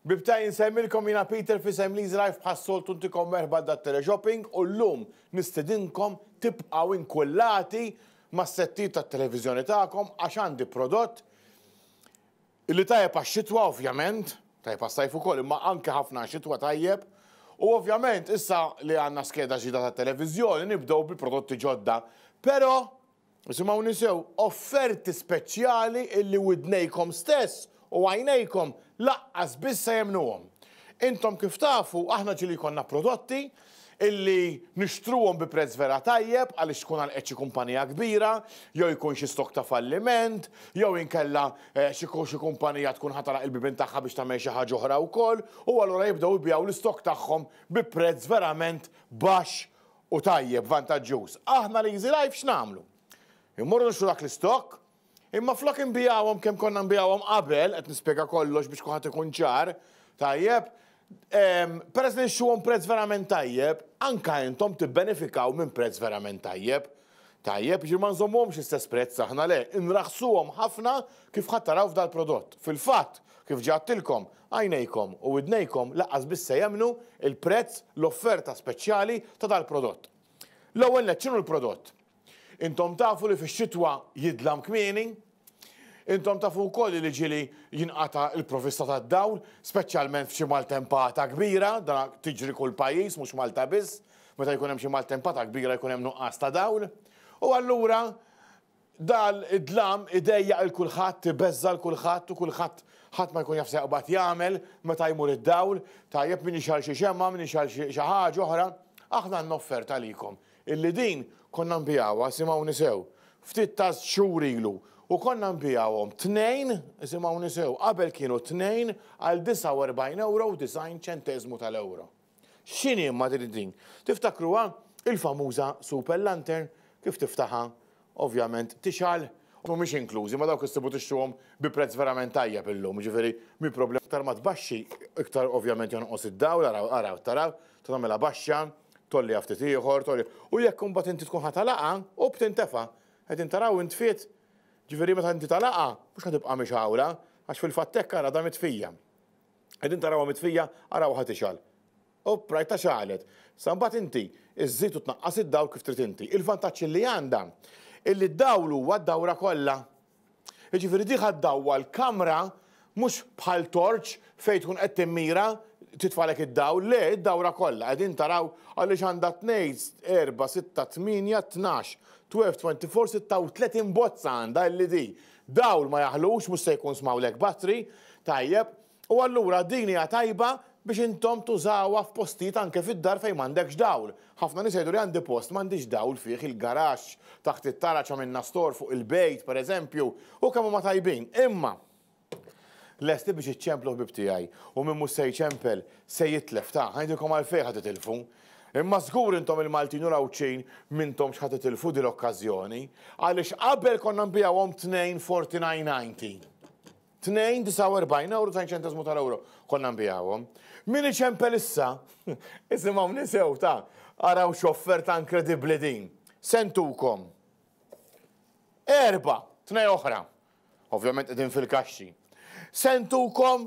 Bibta insemmilkom jiena Peter f'isem Lee's Life bħas-soltu ntikom merħba dat-teleshopping u llum nistidinkom tibqgħu inkullati mas-settijiet tat-televiżjoni tagħkom għax għandi prodott li tajjeb għax-xitwa ovvjament, tajjeb għas-sajf ukoll imma anke ħafna għax-xitwa tajjeb u ovvjament issa li għandna skeda ġdida tat-televiżjoni nibdew bi prodotti ġodda pero Isimgħuni sew, offerti speċjali illi widnejkom stess u għajnejkom laqqas biss se jemmnuhom. Intom kif tafu, aħna ġieli jkollna prodotti illi nixtruhom bi prezz vera tajjeb għaliex tkun għalqet xi kumpanija kbira, jew ikun xi stock ta' falliment, jew inkella xi xi kumpanija tkun ħa tagħlaq il-bibien tagħha biex tagħmel xi ħaġa oħra wkoll u allura jibdew ibigħu l-istock tagħhom bi prezz verament baxx u tajjeb, vantaġġuż, aħna l-Easy Life x'nagħmlu? Immorru nixtru dak l-istokk, imma flok inbigħuhom kemm konna nbigħuhom qabel, qed nispjega kollox biex kulħadd ikun ċar, tajjeb, peress li nixtruhom prezz verament tajjeb, anke intom tibbenefikaw minn prezz verament tajjeb. Tajjeb, jiġifieri ma nżommuhomx l-istess prezz aħna le, inraħħsuhom ħafna kif ħadd taraw f'dal-prodott. Fil-fatt, Kif ġa għedtilkom, għajnejkom u widnejkom lanqas biss se jemmnu l-prezz, l-offerta speċjali ta' dal-prodott. L-ewwel nett x'inhu l-prodott? Intom tafu li fix-xitwa jidlam kmieni? Intom tafu wkoll li l-ġili jinqata' l-provista tad-dawl, speċjalment f'xi maltempata kbira, dan tiġri kull pajjiż mhux Malta biss, meta jkun hemm xi maltempata kbira jkun hemm nuqqas ta' dawl. U allura Dan id-dlam idejjaq lil kulħadd, ibeżża' lil kulħadd u kulħadd ħadd ma jkun jaf x'seqbad jagħmel meta jmur id-dawl, tajjeb min jixgħel xi xemgħa, min jixgħel xi ħaġa oħra. Aħna għandna offerta għalikom, illi din konna nbigħuha, isimgħuni sew, ftit taż xhur ilu, u konna nbigħuhom tnejn, isimgħuni sew, qabel kienu tnejn għal 49 ewro u 90 ċenteżmu tal-ewro. X'inhi Madrid din? Tiftakruha? Il-famuża Super Lantern, kif tiftaħha, ovvjament, tixgħal. Mhumiex inklużi, ma dawk issibu tixtruhom bi prezz verament tajjeb illum, jiġifieri mhi problema. Iktar ma tbaxxi, iktar ovvjament jonqos id-dawl, araw, araw, taraw, tagħmilha baxxa, tgħolliha ftit ieħor, tgħolliha. U jekk imbagħad inti tkun ħa tagħlaqha, opp tintefa'. Qegħdin taraw intfiet? Jiġifieri meta inti tagħlaqha, mhux ħa tibqa' mixgħula, għax fil-fatt hekk ara damet fija. Qegħdin tarawha mitfija, arawha tixgħal. Opp, rajtha xagħlet. Sa mbagħad inti żżid u tnaqqas id-dawl kif trid inti. Il-vantaġġ li għandha hi li d-dawl huwa d-dawra kollha. Jiġifieri di ħa ddawwa l-kamra mhux bħal torċ fejn tkun qed timmira titfalek id-dawl, le, id-dawra kollha. Qegħdin taraw għaliex għandha tnejn, erba', sitta, tmienja, tnax, twelve, twenty-four, sitta u tletin bozza għandha LED. Dawl ma jaħlux, mhux se jkun smawlek battery, tajjeb, u allura din hija tajba biex intom tużawha f'postijiet anke fid-dar fejn m'għandekx dawl. Ħafna nies jgħiduli għandi post m'għandix dawl fih, il-garaxx, taħt it-taraġ għamilna store fuq il-bejt, pereżempju, u kemm huma tajbin. Imma lesti biex iċċemplu ħbieb tiegħi u min mhux se jċempel se jitlef, ta, ħa ngħidilkom għalfejn ħa titilfu. Imma żgur intom il-Maltin u l-Għawdxin m'intomx ħa titilfu din l-okkażjoni għaliex qabel konna nbigħuhom 2.4990. 2.49 ewro ta' ċenteżmu tal-ewro konna nbigħuhom. Min iċempel issa, isimgħuni sew ta' araw x'offerta inkredibbli din. Sentukom. Erba, tnej oħra. Ovvjament qegħdin fil-kaxxi. Sentukom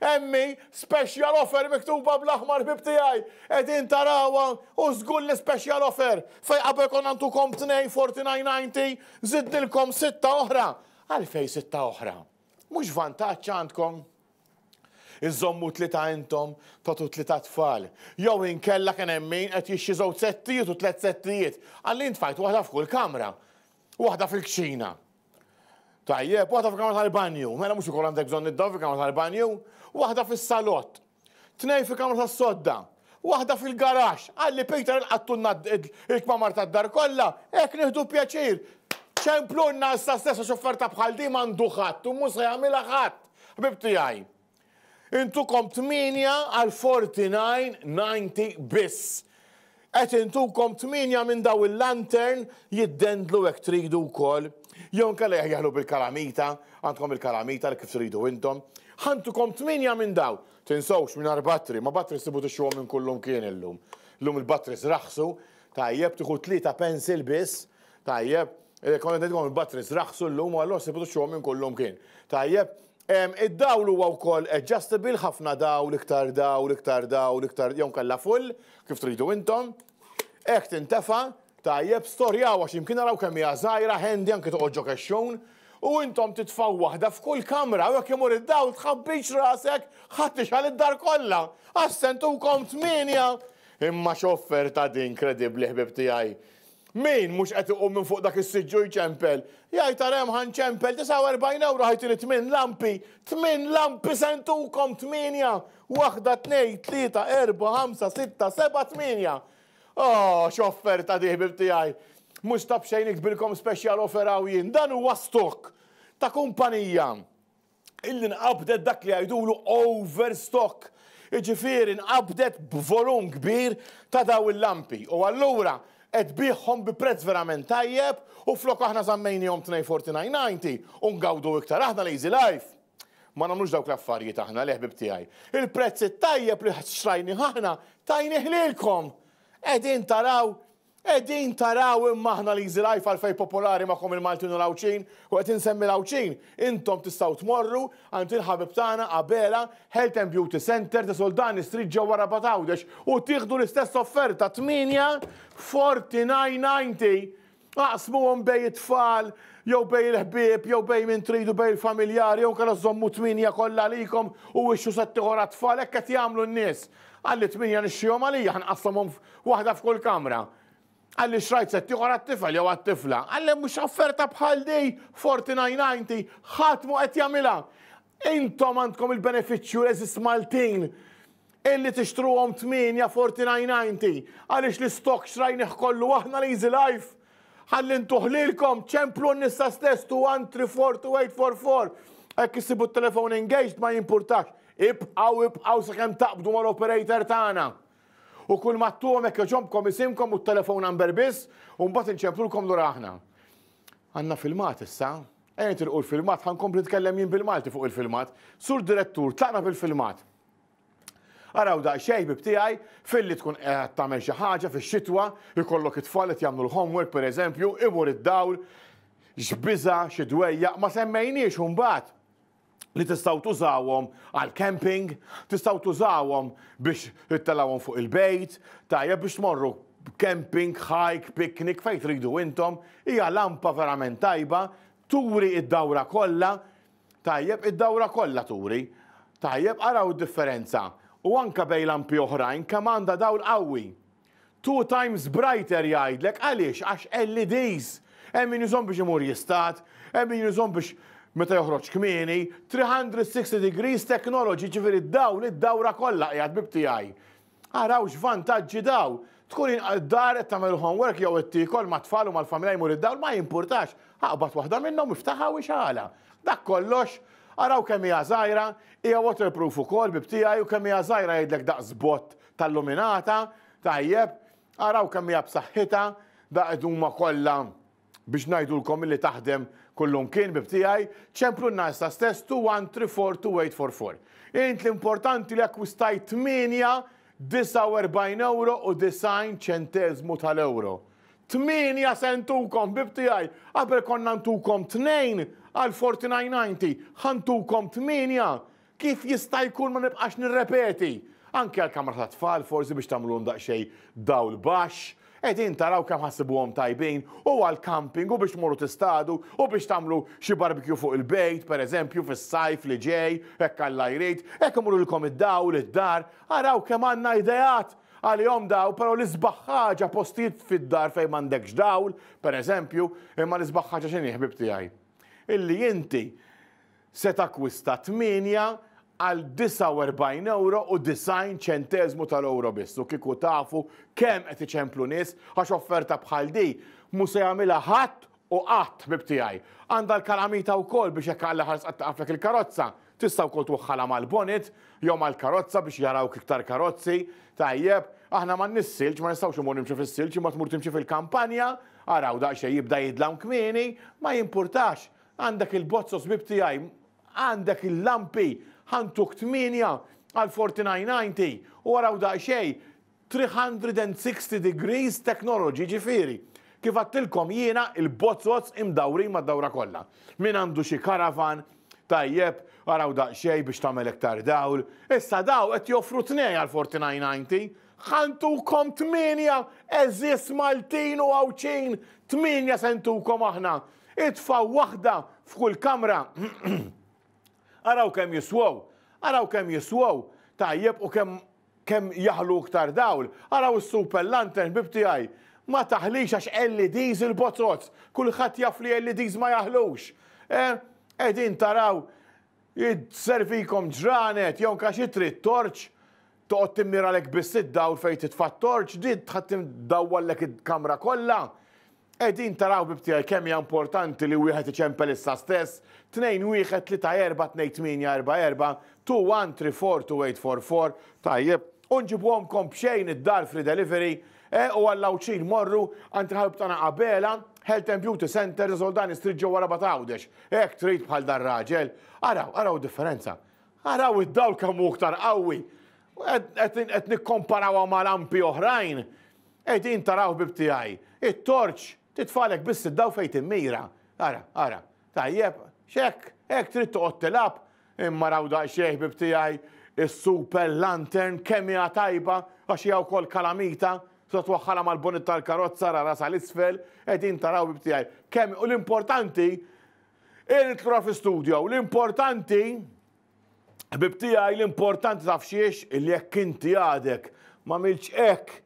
Emmi, special offer miktuba bl-aħmar ħbib tiegħi! Qegħdin tarawha u żgur li special offer! Fejn qabel konna ntukom tnejn 49.90 żidnilkom sitta oħra! Għalfejn sitta oħra? Mhux vantaġġ għandkom? Iżżommu tlieta intom, tagħtu tlieta tfal. Jew inkella kien hemm min qed jixxi żewġ settijiet u tliet settijiet. Għalli ntfajt waħda f'kull kamra. Waħda fil-kċina. Tajjeb, waħda fil-kamra tal-banju, mela mhux ukoll għandek bżonn id-dawl fil-kamra tal-banju, waħda fis-salott, tnej fil-kamra tas-sodda, waħda fil-garax, għalli Peter il-qattunna il-kmamar tad-dar kollha, hekk nieħdu pjaċir. Ċemplunna issa stessa xofferta bħal di m'għandu ħadd u mhux se jagħmilha ħadd. Ħbib tiegħi. Intukom 8 għal 49.90 biss. Qed intukom 8 minn daw il-lantern jiddendlu hekk tridu wkoll. Jew inkella jaħjaħlu bil-kalamita, għandkom il-kalamita li kif tridu intom. Ħantukom 8 minn daw. Tinsewx mingħajr battri, ma battri sibu tixtruhom minn kull imkien illum. Illum il-batteries raħsu, tajjeb tieħu tlieta pencil biss, tajjeb, Konna ngħidilkom il-batteries raħsu llum u allura sibu tixtruhom minn kull imkien. Tajjeb, Id-dawl huwa wkoll adjustable, ħafna dawl, iktar dawl, iktar dawl, iktar, jew inkella full, kif tridu intom. Hekk tintefa', tajjeb, storjawha x'imkien araw kemm hija żgħira, handy anke toqgħod ġo kexxun. U intom titfgħu waħda f'kull kamra u jekk imur id-dawl tħabbix rasek ħadd ixgħal id-dar kollha! Għax se ntukom tmienja! Imma x'offerta din kredibbli ħbieb tiegħi! Min mhux qed iqum minn fuq dak is-siġġu jċempel, jgħid ara hemm ħa nċempel 49 ewro ħajtini tmien lampi, tmien lampi se ntukom tmienja, waħda tnejn tlieta erbgħa ħamsa sitta sebgħa tmienja! Oh, x'offerta di ħbieb tiegħi! Mhux ta' b'xejn nikbilkom speċjal offer hawn jien, dan huwa stock ta' kumpanija illi nqabdet dak li jgħidulu overstock, jiġifieri nqabdet b'volum kbir ta' dawn il-lampi u allura qed tbiegħhom bi prezz verament tajjeb u flok aħna żammejniehom tnejn forty nine ninety u ngawdu iktar aħna l-easy life. Ma nagħmlux dawk l-affarijiet aħna, le ħbieb tiegħi. Il-prezz it-tajjeb li xtrajnih aħna tajnih lilkom. Qegħdin taraw Qegħdin taraw imma aħna l-Easy Life għalfejn popolari magħkom il-Maltin u l-Għawdxin, u qed insemmi l-Għawdxin, intom tistgħu tmorru għand il-ħabib tagħna Abela Health and Beauty Centre ta' Soldani Street ġewwa Rabat Għawdex u tieħdu l-istess offerta 8:49.90. Aqsmuhom bejn it-tfal jew bejn il-ħbieb jew bejn min tridu bejn il-familjari jew inkella żommu 8 kollha għalikom u wixxu settieħor għat-tfal hekk qed jagħmlu n-nies. Qal li tmienja nixtrihom għalija, ħa nqassamhom waħda f'kull kamra. Qal li xtrajt sett ieħor għat-tifel jew għat-tifla. Qal li mhux offerta bħal di, 4990, ħadd mhu qed jagħmilha. Intom għandkom il-benefiċċju eżis Maltin illi tixtruhom 8 4990 għaliex l-istokk xtrajnih kollu aħna l-Easy Life. Ħalli ntuh lilkom, ċemplu n-nisa stess 2134844. Hekk issibu t-telefon engaged ma jimpurtax. Ibqgħu ibqgħu sakemm taqbdu mal-operator tagħna. U kull ma ttuhom hekk jogħġobkom isimkom u t-telefon number biss u mbagħad inċemplulkom lura aħna. Għandna filmat issa. Ejja nitilqu l-filmat ħa nkompli nitkellem jien bil-Malti fuq il-filmat. Sur Direttur, tlaqna bil-filmat. Araw daqsxejn ħbieb tiegħi, filli tkun qiegħed tagħmel xi ħaġa fix-xitwa, ikollok it-tfal qed jagħmlu l-homework pereżempju, imur id-dawl, x'biża', xi dwejjaq, ma semmejniex imbagħad li tistgħu tużawhom għal camping, tistgħu tużawhom biex ittelawhom fuq il-bejt, tajjeb biex tmorru camping, hike, picnic, fejn tridu intom, hija lampa verament tajba, turi id-dawra kollha, Tajjeb, id-dawra kollha turi. Tajjeb, araw id-differenza. U anke bejn lampi oħrajn kemm għandha dawl qawwi. Two times brighter jgħidlek għaliex għax LEDs. Hemm min jużhom biex imur jistad, hemm min jużhom biex meta joħroġ kmieni, 360 degrees technology, jiġifieri d-dawl id-dawra kollha qiegħed bib tiegħi. Araw x'vantaġġi daw! Tkun inqal d-dar, qed tagħmel il-homework jew qed tiekol mat-tfal u mal-familja jmur id-dawl, ma jimpurtax, aqbad waħda minnhom, iftaħha u ixgħalha. Dak kollox! Araw kemm hija żgħira, hija waterproof ukoll, bieb tiegħi, u kemm hija żgħira jgħidlek daqs bott ta' lluminata, tajjeb, araw kemm hija b'saħħitha, da qed huma kollha Biex ngħidulkom illi taħdem kullumkien bib tiegħi, ċemplunna issa stess to one three four two eight four four. Int l-importanti li akkwistajt 8.49 euro u 90 ċenteżmu tal-euro. 8 se ntukom bib tiegħi, qabel konna ntukom 2 għal 49.90, ħantukom 8 Kif jista' jkun ma nibqax nirrepeti? Anke għall-kamra tat-tfal forsi biex tagħmlulhom daqsxejn dawl baxx. Qegħdin taraw kemm ħassibuhom tajbin? U għall-camping u biex tmorru tistadu u biex tagħmlu xi barbecue fuq il-bejt, pereżempju, fis-sajf li ġej, hekk Alla jrid. Hekk imur lilkom id-dawl, id-dar. Araw kemm għandna ideat għalihom dawn, però l-isbaħ ħaġa postijiet fid-dar fejn m'għandekx dawl, pereżempju, imma l-isbaħ ħaġa x'inhi ħbieb tiegħi? Illi inti se takkwista tmienja għal 49 ewro u 90 ċenteżmu tal-ewro biss u kieku tafu kemm qed iċemplu nies għax offerta bħal di mhu se jagħmilha ħadd u qatt ħbieb tiegħi. Għandha l-kalamita wkoll biex jekk Alla ħares qatt taqaflek il-karozza tista' wkoll twaħħalha mal-bonnet jew mal-karozza biex jarawk iktar karozzi. Tajjeb, aħna m'għandniex silġ ma nistgħux imur nimxu fis-silġ imma tmur timxi fil-kampanja, araw daqsxejn jibda jidlam kmieni, ma jimpurtax. Għandek il-bozz osbib tiegħi, għandek il-lampi, ħa ntuk tmienja għal forty nine ninety u araw daqsxejn, three hundred and sixty degrees technology jiġifieri kif għadtilkom jiena il-bozzos imdawrin mad-dawra kollha. Min għandu xi caravan, tajjeb, araw daqsxejn biex tagħmel iktar dawl, issa daw qed joffru tnej għal forty nine ninety, ħa ntukom tmienja għeżież Maltin u Għawdxin, tmienja se ntukom aħna Itfgħu waħda f'kull kamra. Araw kemm jiswew. Araw kemm jiswew. Tajjeb u kemm kemm jaħlu iktar dawl. Araw is-super lantern bib tiegħi. Ma taħlix għax LEDs il-bozozz. Kulħadd jaf li LEDs ma jaħlux. Eh? Qegħdin taraw jservikom ġranet jew anke xi trid torċ. Toqgħod timmiralek biss id-dawl fejn titfa' t-torċ, din ddawwallek il-kamra kollha. Qegħdin taraw ħbieb tiegħi kemm hija importanti li wieħed iċempel issa stess, Tnejn Wieħed Tlieta Erbgħa Tnejn Tmienja Erbgħa Erbgħa, Two One Three Four Two Eight Four Four, tajjeb, u nġibuhomkom b'xejn id-dar free delivery, eh, u għall-Għawdxin morru għand il-ħabib tagħna Abela, Health and Beauty Center ta' Soldani Street ġewwa Rabat Għawdex. Hekk trid bħal dar-raġel. Araw, araw id-differenza. Araw id-dawl kemm hu iktar qawwi! Qed nikkomparawha ma' lampi oħrajn. Ej din taraha ħbieb tiegħi. It-torċ titfagħlek biss id-dawl fejn timmira. Ara, ara. Tajjeb, hekk, hekk trid toqgħod tilgħab. Imma araw daqsxejn ħbieb tiegħi, is-super lantern kemm hija tajba għax hija wkoll kalamita. Tista' twaħħalha mal-bonnet tal-karozza, ara, ara sa l-isfel. Ej din taraha ħbieb tiegħi. Kemm, u l-importanti, Irid lura fi studio u l-importanti Ħbib tiegħi l-importanti taf xiex li jekk inti għadek ma milċ hekk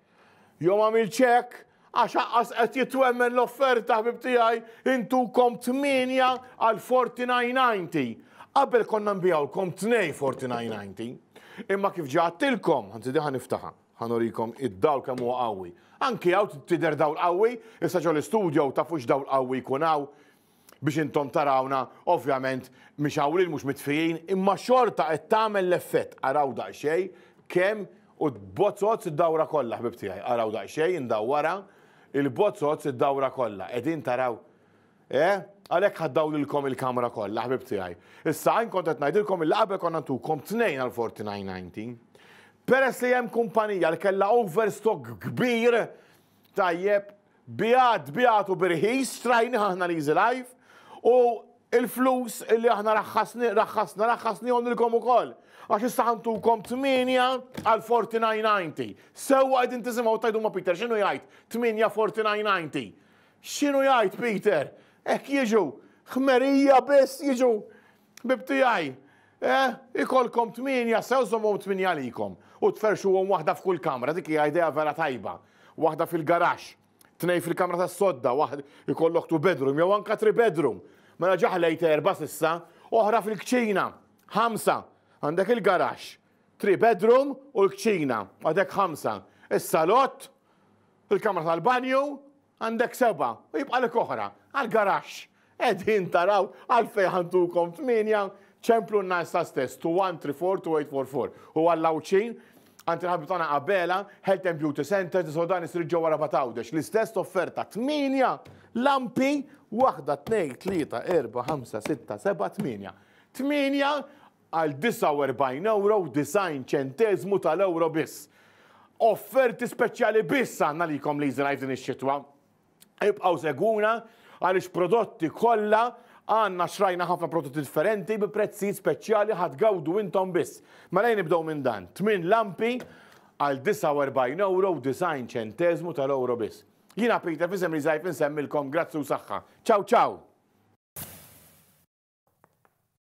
jew ma milċ hekk għax aqqas qed jitwemmen l-offerta ħbib tiegħi intukom 8 għal 49.90. Qabel konna nbijawkom 2 49.90. Imma kif ġatilkom, għanzi diħan niftaħa, ħanorikom id-dawl kemm huwa qawwi. Anki għaw tider dawl qawwi, issa ġol studio ta' fux dawl qawwi jkun hawn. biex intom tarawna, ovvjament mhix hawn lil mhux mitfijin, imma xorta qed tagħmel l-effett. Araw daqsxejn kemm u tbozzozz id-dawra kollha ħbib tiegħi. Araw daqsxejn indawwara il-bozzozz id-dawra kollha. Qegħdin taraw? Eh? Għalhekk ħaddaw lilkom il-kamra kollha ħbib tiegħi. Issa għajn kont qed ngħidilkom illi qabel konna ntukom tnejn għal 49.90. Peress li hemm kumpanija li kellha overstock kbir Tajjeb, biegħed, biegħed u b'irħis, strajnih aħna l-Easy Life u l-flus li aħna raħħasni, raħħasna, raħħasnihom lilkom ukoll. Għax issa ħantukom 8 għal 49.90. Sewwa qegħdin tisimgħu tajdu ma' Peter x'inhu jgħid 8 49.90. X'inhu jgħid Peter? Hekk jiġu, ħmerija biss jiġu Ħbieb tiegħi, eh, ikollkom tmienja sew żommhom tmienja għalikom u tferrxuhom waħda f'kull kamra, dik hija idea vera tajba. Waħda fil-garaxx, tnejn fil-kamra tas-sodda, waħd ikollok two bedroom jew anke three bedroom. Mela ġaħlejt erba' s'issa, oħra fil-kċina, ħamsa. Għandek il-garaxx, three bedroom u l-kċina, għadek ħamsa. Is-salott, il-kamra tal-banju, Għandek sebgħa u jibqalek oħra għall-garaxx. Qegħdin taraw għalfejn ħantukom tmienja? Ċemplunna issa stess to 134 to 844. U għall-Għawdxin, għand il-ħabib tagħna Abela, Health and Beauty Centers li sodan isir ġewwa Rabat Għawdex. L-istess offerta tmienja lampi waħda tnejn tlieta erba' ħamsa sitta seba' tmienja. Tmienja għal 49 ewro u 90 ċenteżmu tal-ewro biss. Offerti speċjali biss għandna likom Leaselife din ix-xitwa. Ibqgħu segwuna għaliex prodotti kollha għandna xrajna ħafna prodotti differenti bi prezzijiet speċjali ħadd gawdu intom biss. Mela jien nibdew minn dan, tmien lampi għal 49 ewro u 90 ċenteżmu tal-ewro biss. Jiena Peter fisem Leaselife insemmilkom grazzi u saħħa. Ciao ciao!